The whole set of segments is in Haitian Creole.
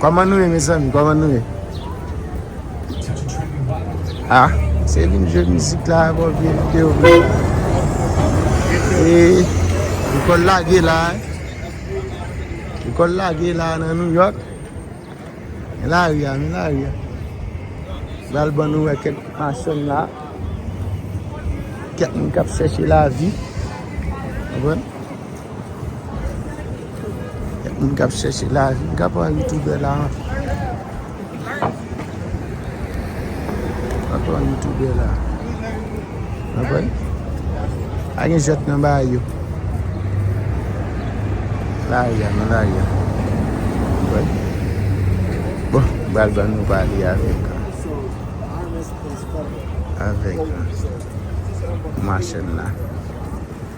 Koman nou ye mezanmi koman nou ye A se vin jwe mizik la a bon vye video E Li kòl lage la a Li kòl lage la a nan New York Men la ri a men la ri a Bal ban nou wè kèk machann la Kèk moun kap chèche lavi Mwen Gen moun kap chèche lavi. M kap pran youtube la. M kap pran youtube la. Mwen pran. A gen jwèt nan ba yo. La ya nan la ya. Mwen pran. Bon. Bal ban nou pali avèk. Avèk. Mwen chèn la.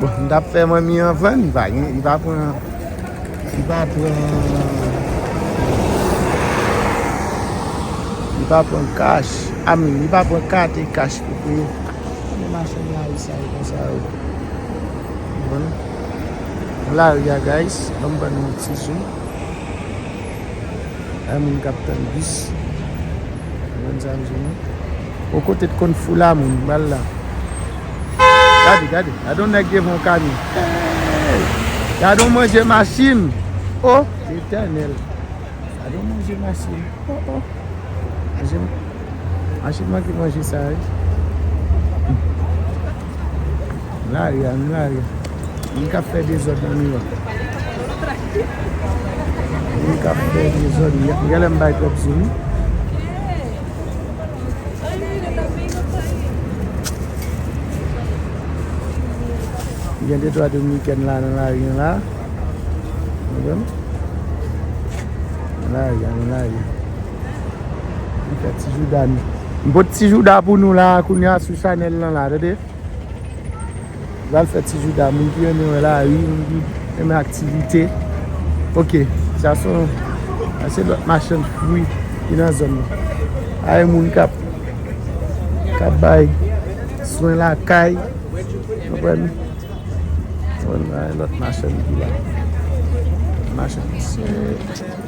Bon m tap fè manmi an vann li pa gen li pa pran li pa pran li pa pran kach a mi li pa pran kat e kach pou peye men machann la ri sa yo konsa yo bon m la ri a guys banm bann yon ti jou. Ay moun kap tann bis. Konprann sa m di nou. O kote t konn foula moun m bal la. Gade gade. Gade yon nèg devan yon kamyon. Hey! Gade yon manje machin. O! Letènèl. Gade yon manje machin. O o. Manje m. Machin manke manje sa wi. Lari a nou lari. Moun kap fè dezòd nan New York. Moun kap fè dezòd. Gèlè m bay twòp zoom. Gen de twa dominiken la nan lari an la. Lari a nou lari. Li fè ti jouda nou. M pot ti jouda pou nou la kounye a sou chanèl lan la tande. M pral fè ti jouda moun ki renmen wè la ri, moun ki renmen aktivite. Ok, sa son sa se lòt machann fwi ki nan zòn nan. Sa e moun kap kap bay swen lakay. Konprann? Sa e lòt machann ki la. Machann se.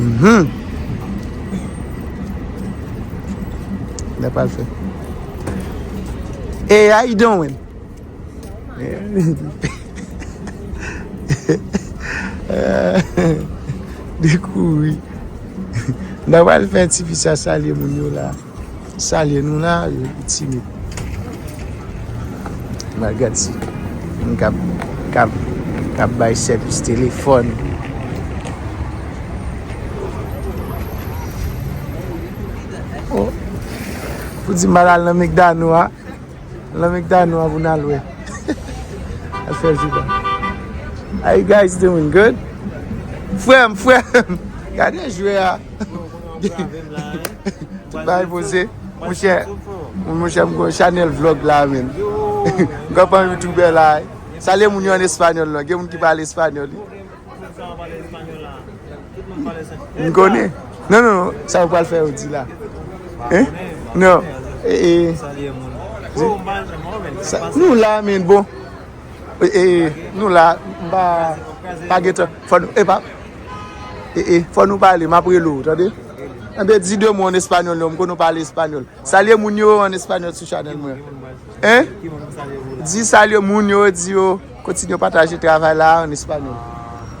Mhum. Lè pral fè. Hey, how you doing? Dekouri. Lè pral fè ti fi sa salye moun yo la. Salye nou la yo ki timid. Mwen gad si moun kap kap kap bay sèvis telefòn. Oh pou di mal al nan mekdano a. Nan mekdano a pou nan lwe. Al fè jouda. How you guys doing? Good? Frèm, frèm. Gade jwè a. Tout bagay poze. Mwen chè, mwen chè mwen gwen chanel vlog la men. Mwen gwen pan youtuber la. Salye moun yo an espanyol la. Gen moun ki pale espanyol. Mwen gwen. Non, non, non. Sa yon pal fè yon di la. Non. Salye moun. Bon, mwen chè mwen. Nou la men bon. E nou la mpa pa gen tan fò nou epa e e fò nou pale map rele ou tande enben di 2 mo an español non mkonnen ou pale español salye moun yo an español sou chanel mwen hein di salye moun yo di yo kontinye pataje travay la an español.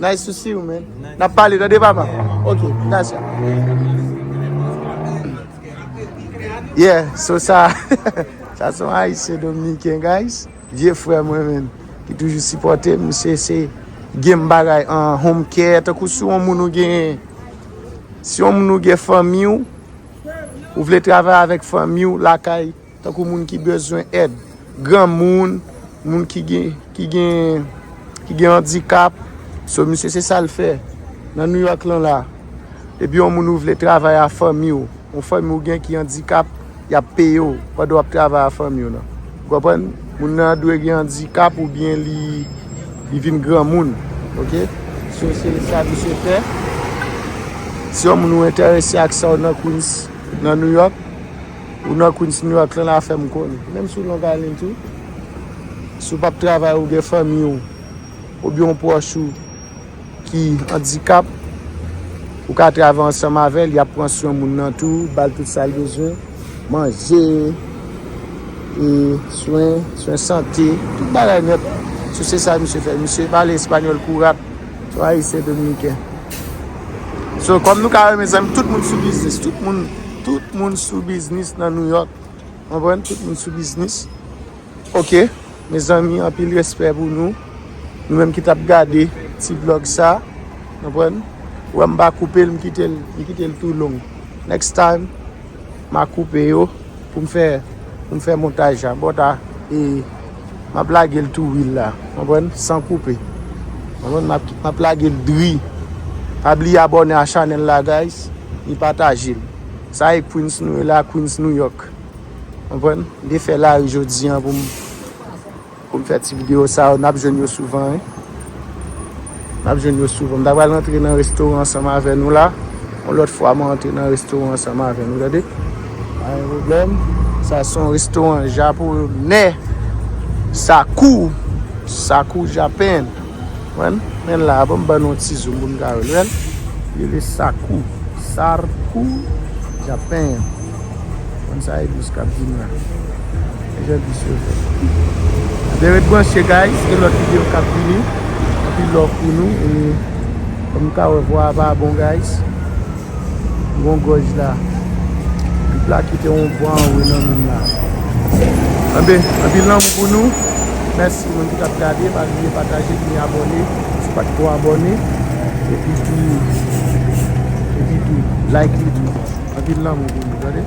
Nice to see you man. Nap pale tande papa. Ok, gracias. Yeah, so sa, sa son Haitien Dominicain guys. Vye frè mwen men, ki toujou sipote m, se se gen bagay an home care, tankou si yon moun ou gen, si yon moun ou gen fanmi ou, ou vle travay avèk fanmi ou lakay. Tankou moun ki bezwen èd. Granmoun, moun ki gen, ki gen, ki gen andikap. So misye se sa l fè nan New York lan la. Depi yon moun ou vle travay a fanmi w, yon fanmi w gen ki andikap, y ap peye w pandan w ap travay a fanmi w nan. Ou konprann? Moun nan dwe gen andikap oubyen li, li vin granmoun. Ok? So se sa misye fè. Si yon moun ou entèrese ak sa w nan Queens, nan New York. Ou nan Queens New York lan la fèm konn. Menm si ou Long Island tou. Si ou pap travay ou gen fanmi ou. Ou byen yon pwòch ou ki andikap. Ou ka travay ansanm avèl. Yap pran swen moun nan tou. Bal tout sal bezwen. Manje. E swen. Swen sante. Tout bagay nèt. Si se sa misye fè. Misye pale espanyòl kou rat. Tout ayisyen dominiken. So kom nou ka we mezanmi tout moun sou biznis. Tout moun tout moun sou biznis nan New York. Anpwen tout moun sou biznis. Ok mezanmi anpil respè pou nou. Nou menm ki tap gade ti vlog sa. Anpwen. Wè m pa koupe l m kite l m kite l tou long. Next time ma koupe yo. Poum fè poum fè montaj la bon ta e map lagel tou wi la konprann san koupe konprann map lagel dri pa bliye abòne a chanèl la guys e patajel sa e queens nou e la queens new york konprann mte fè lari jodi an poum. Pou m fè ti video sa yo nap jwenn yo souvan wi nap jwenn yo souvan m ta pral antre nan restoran ansanm avè nou la yon lòt fwa mwen antre nan restoran ansanm avè nou tande pa gen problèm sa son restoran japonè sakou sakou japan. Konprann? Men la a bon m ban nou yon ti zoom pou nou ka wè l. Ou wè l? Li rele Sakou. Sarkou Japen. Ou konn sa e bis k ap vin la. Men jan bis yo fèt. Anben ret branche guys. Gen lòt videyo k ap vini. Anpil love pou nou. E kòm nou ka wè vwa a pa bon guys. Gon gòj la. Pip la kite yon bon anwe nan menm la. Anbe, anpil lanmou pou nou. Mèsi moun ki tap gade. Pa bliye pataje epi abòne si w pa t ko abòne. Epi tou, epi tou like li tou. Anpil lanmou pou nou tande.